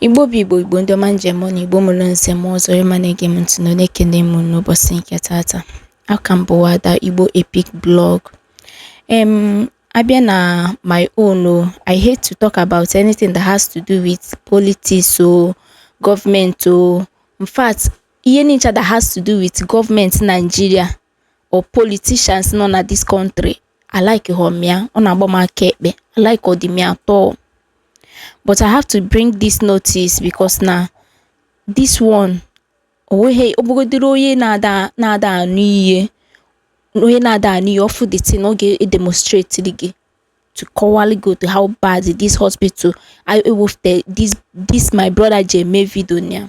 Igbo bụ Igbo Igbo ndị ọma m ji eme ọnụ Igbo mụrụ nze mụọ ọzọ ịma na-ege m ntị na na-ekene m n'ụbọchị nke tata a ka m bụwa ada Igbo Epic Blog em abịa na my own o I hate to talk about anything that has to do with politics or government o in fact ihe niile that has to do with government Nigeria or politicians nọ na this country a likehọ m ya, ọ na-agba m aka ekpe a likehọdị m ya at all but I have to bring this notice because na this one onweghị ọ bụgodịrị onye na-ada na-ada anụ ihe onye na-ada anụ ihe ọ fụ the thing ọ ga-edemonstrate gị to kọwaalụ gị otu how bad this hospital I ewefute this this my brother ji eme video ya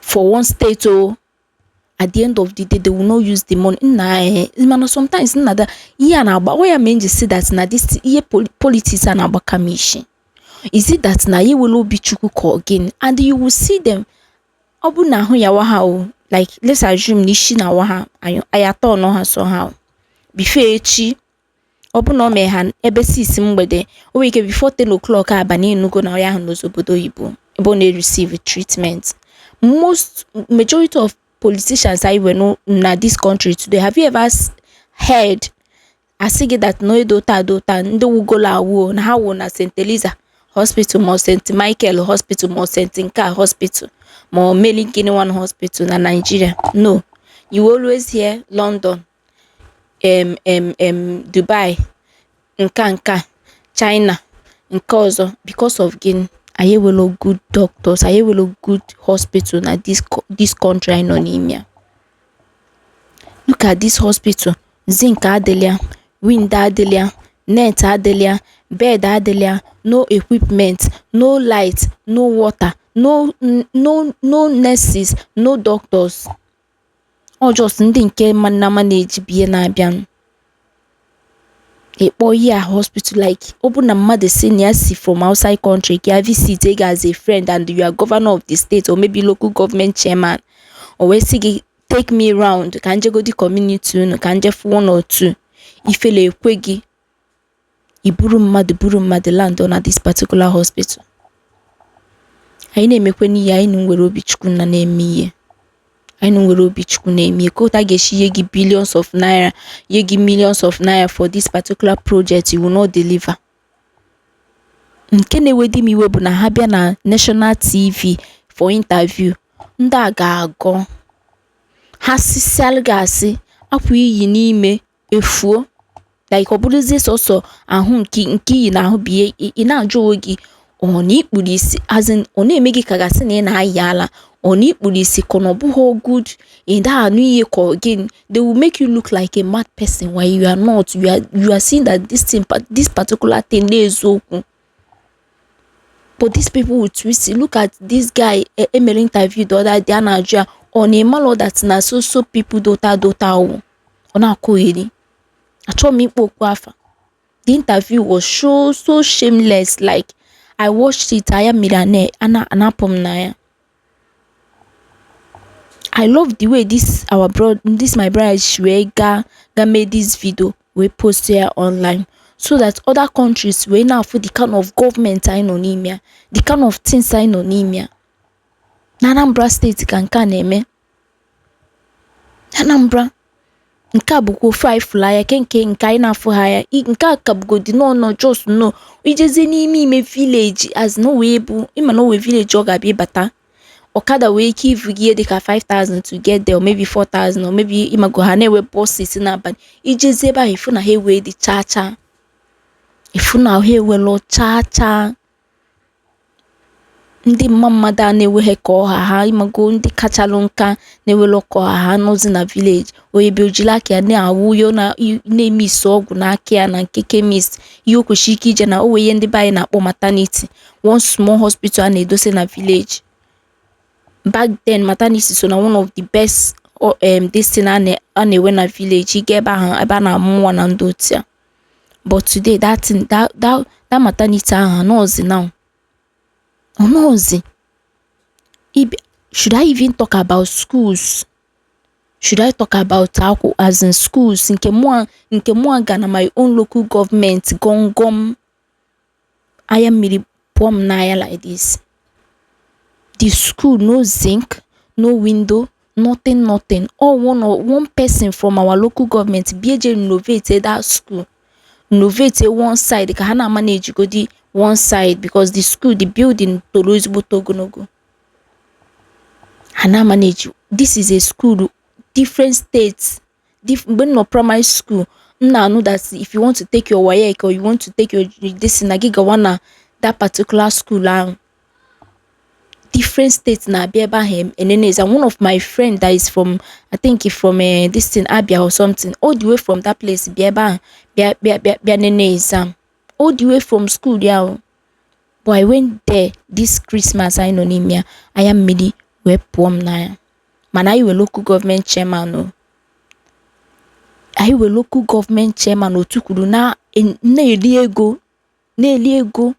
for one state oh at the end of the day they will not use the money nna eh mana sometimes nna that's why m ji sị that na this ihe politics a na-agbaka m ishi is it that na anyị enwelọ obi Chukwu ka ọ gịnị and you will see them ọ bụ na ahụ yawa ha o like let's assume na isi na-awa ha anya atọ nọ ha somehow before echi ọ bụ na ọ mee ha ebe 6 mgbede o nwere ike before 10 o'clock abalị ị nụgo na onye ahụ nọzi obodo oyibo ebe ọ na-receive treatment most majority of politicians anyị nwere na this country today have you ever heard a sị gị that na edota adota ndị nwụgolo anwụ na ha nwụ na St. Eliza hospital ma St. Michael hospital ma St. nke a hospital ma Mary gịnị one hospital na Nigeria no you always hear London em em em Dubai nka nka China nke ọzọ because of gịnị anyị enwelọ good doctors anyị enwelọ good hospital na this co- this country anyị nọ n'ime ya look at this hospital zinc adịlọ ya wind adịlọ ya net adịlọ ya bed adịlọ ya no equipment no light no water no no no nurses no doctors ọ just ndị nke na-amanage bie na-abịanụ ịkpọ ihe a hospital like ọ bụ na mmadụ sị na ya si from outside country ka ya visit gị as a friend and you are governor of the state or maybe local government chairman o wee sị gị take me round ka m jegodi community unu ka m je fụ one or two ifele ekwe gị i buru mmadụ buru mmadụ land na this particular hospital anyị na-emekwenụ ihe anyị nụ nwere obi chukwu na na-eme ihe anyị nụ nwere obi chukwu na-eme ihe ka otu a ga-esi nye gị billions of naira nye gị millions of naira for this particular project you will not deliver nke na-ewedi m iwe bụ na ha bịa na national tv for interview ndị a ga-agọ ha sịsịalụ gị asị apụ iyi n'ime efuo like ọ bụrụzie sọsọ ahụ nke nke ihe ị na-ahụ bụ ihe ị- ị na-ajụ onwe gị ọ na ị kpuru isi as in ọ na-eme gị ka a ga-asị na ị na-ayi ala ọ na ị kpuru isi ka ọ na ọ bụghị good ị da anụ ihe ka ọ gịnị they will make you look like a mad person when you are not you are, you are seeing that this thing pa- this particular thing na eziokwu but these people will twist it. look at this guy e e mere interview the other day a na-ajụ ya ọ na ị malụ that na so so people dota dota o ọ na-akọheri achọghị m ịkpọ okpu afa the interview was so so shameless like i watched it anya mmiri a na-apụ m n'anya i love the way this our bro this my brother si wee gaa ga mee this video wee post ya online so that other countries wee na-afụ the kind of government anyị nọ n'ime ya the kind of things anyị nọ n'ime ya na Anambra steeti ka nke a na-eme Anambra nke a bụgo ife anyị fụrụ anya ke nke nke anyị na-afụghị anya I- nke a ka bụgodi nọ nọ just nọ ị jezie n'ime ime village as na o wee bụ ị ma na o wee village ọ ga-abịa ịbata ọkada wee ike ivu gị ihe dịka 5000 to get there or maybe 4000 or maybe ị mago ha na-enwe buses n'abalị ị jezie ebe ahụ ị fụ na ha ewedị chaa chaa ị fụ na ha ewelụ chaa chaa ndị mma mmadụ a na-enweghị ka ọ ha ha ị mago ndị kachalụ nka na-enwerọ ka ọ ha ha nọzi na village onye bịa o jiri aka ya na-awụ yo na-eme isi ọgwụ n'aka ya na nke chemist ihe o kwesịrị ike ije na o wee ihe ndị be anyị na-akpọ maternity one small hospital a na-edose na village back then maternity so na one of the best um, this thing a na-enwe na village ị ga ebe ahụ ebe a na-amụ nwa na ndị otu ya but today that thing that that that maternity ahụ anọzi now anọzi ibe should I even talk about schools should I talk about akwụ as in schools nke mụa nke mụa ga na my own local government gọngọm Anya mmiri pụọ m n'anya like this. The school no zinc, no window, nothing nothing. All one or one person from our local government bịa je renovate that school. Renovate one side ka ha na-ama na-ejigodi one side because the school, the building toro ezigbo ogologo. Ha na-ama na-eji this is a school different states mgbe m nọ primary school m na-anụ that if you want to take your WAEC or you want to take your this na gị gawa na that particular school ahụ different states na-abịa ebe ahụ enene exam one of my friend that is from I think from uh, this thing Abia or something all the way from that place bịa ebe ahụ bịa bịa bịa bịa nene exam all the way from school ya o but I went there this Christmas anyị nọ n'ime ya anya mmiri wee pụọ m n'anya mana anyị were local government chairman o anyị were local government chairman o tukwuru na na-eri ego na-eri ego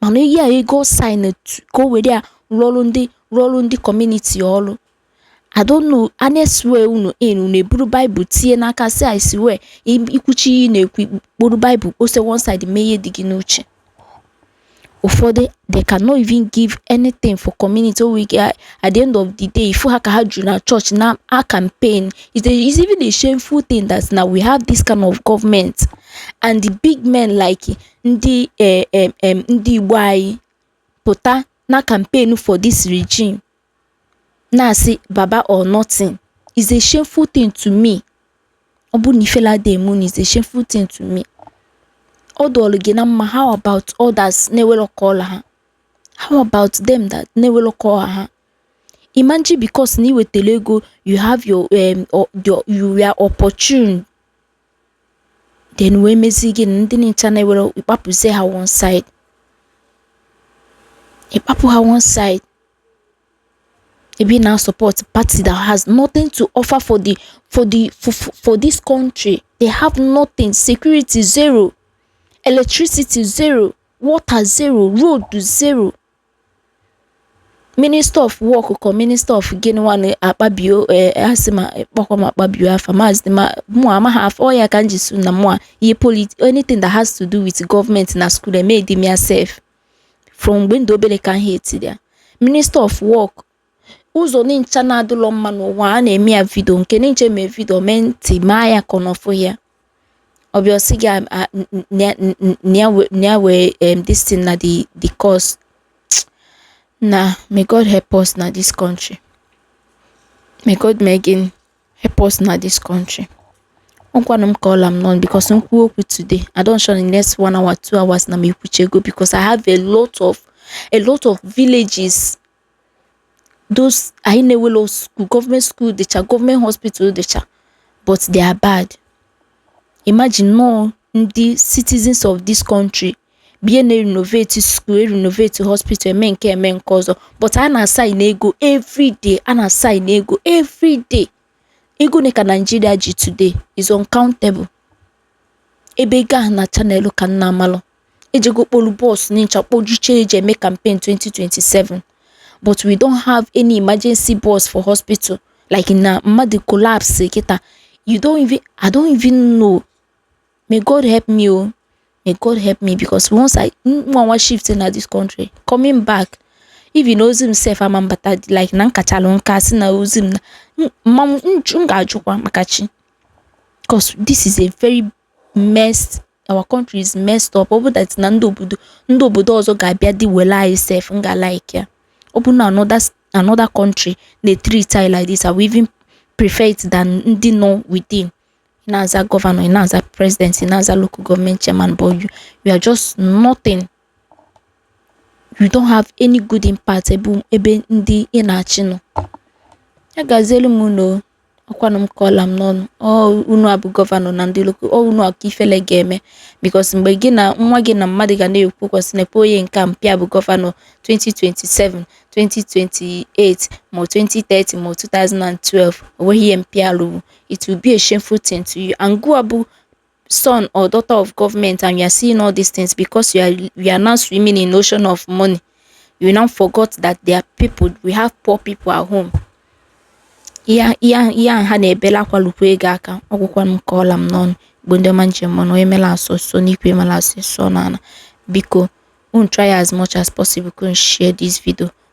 mana ihe a ego ọ sign etu ka o were ya rụọ ọrụ ndị rụọ ọrụ ndị community ọrụ I don't know a na-eswear unu in unu eburu baịbụl tinye n'aka sị I swear i kwuchaa ihe ị na-ekwu kporo baịbụl kpose one side mee ihe dị gị n'uche ụfọdụ they cannot even give anything for community onwe ike at the end of the day ị fụ ha ka ha juru na church na a campaign it's, a, it's even a shameful thing that now we have this kind of government and the big men like ndị eh, eh, eh, ndị igbo anyị pụta na campaign for this regime na-asị baba or nothing is a shameful thing to me ọ bụrụ na ifele ada eme unu is a shameful thing to me ọ dụọlụ gị na mma how about others na enwelọ ka ọ la ha how about them that na enwelọ ka ọ la ha imagine because na i nwetalụ ego you have your, um, or your you were opportune then wee mezie gịnị ndị nincha na enwelọ ị kpapụzie ha one side ị kpapụ ha one side i bie na support party that has nothing to offer for the for the for, for this country they have nothing security zero electricity zero water zero road zero Minister of Work ka Minister of gịnịwanụ Akpabio ee asị ma kpọkwa m Akpabio afa maazị ma mụ amaghị afa ọ ya ka m ji sị na mụa ihe polit anything that has to do with gọọmenti na skuul emedi m ya sef from mgbe m dụ obele ka m hatiri ya Minister of Work ụzọ nincha na adịlọ mma n'ụwa a na-eme ya vidio nke nincha e mee vidio mee ntị maa ya ka ọ nọfụ ya ọ bịa ọ sị gị a- a- n- n- na- n- n- na ya we- na ya wee em, this thing na the the cause na may god help us na this country may god mee gịnị help us na this country ọkwanụ m ka ọ la m n'ọnụ because m kwuo okwu today i don't sure in the next one hour two hours na m ekwuchego because i have a lot of a lot of villages those anyị na enwerọ school gọọmenti school dịcha gọọmenti hospital dịcha but they are bad imagine na ọ ndị citizens of this country bie na-erenovate school erenovate hospital eme nke eme nke ọzọ but a na-asain ego everyday a na-asain ego everyday ego one ka Nigeria ji today is uncountable ebe ego ahụ nincha nalụ ka m na-amalọ ejego kpolu bọs nincha kpojuche e ji eme campaign 2027 but we don't have any emergency bus for hospital like na mmadụ collapse kịta you don't even i don't even know may god help me o may god help me because once i nwa nwa shift na this country coming back even ozu m sef ama mbata like na m kachalụ nka sị na ozu m na m- ma m m ga-ajụkwa maka chi because this is a very messed our country is messed up ọ bụ that na ndị obodo ndị obodo ọzọ ga-abịa dị wele anyị sef m ga like ya ọ bụ na another another country na-etreat anyị like this I will even prefer it than ndị nọ within ị na-aza gọvanọ ị na-aza president ị na-aza local government chairman but you, you are just nothing you don't have any good impact ebe ebe ndị ị na-achị nọ ya gazielu m unu o. ọ kwanụ m ka ọ la m n'ọnụ ọ unu a bụ gọvanọ na ndị loko ọ unu ka ifele ga-eme because mgbe gị na nwa gị na mmadụ ga na-ekwu okwu a sị nekwe onye nke a mpa ya bụ gọvanọ 2027 2028 ma 2030 ma 2012 o nweghị ihe mpa ya lụrụ it will be a shameful thing to you and gụwa bụ son or daughter of government and you are seeing all these things because you are you are now swimming in ocean of money you now forgot that there are people we have poor people at home ihe ihe a ha na-ebela akwa lukwa gị aka ọ gwụkwa m ka ọ la m n'ọnụ igbo ndị ọma m ji eme ọnụ onye mela asụsụ n'ikwe mela asụsụ n'ala biko unu try as much as possible ka unu share this video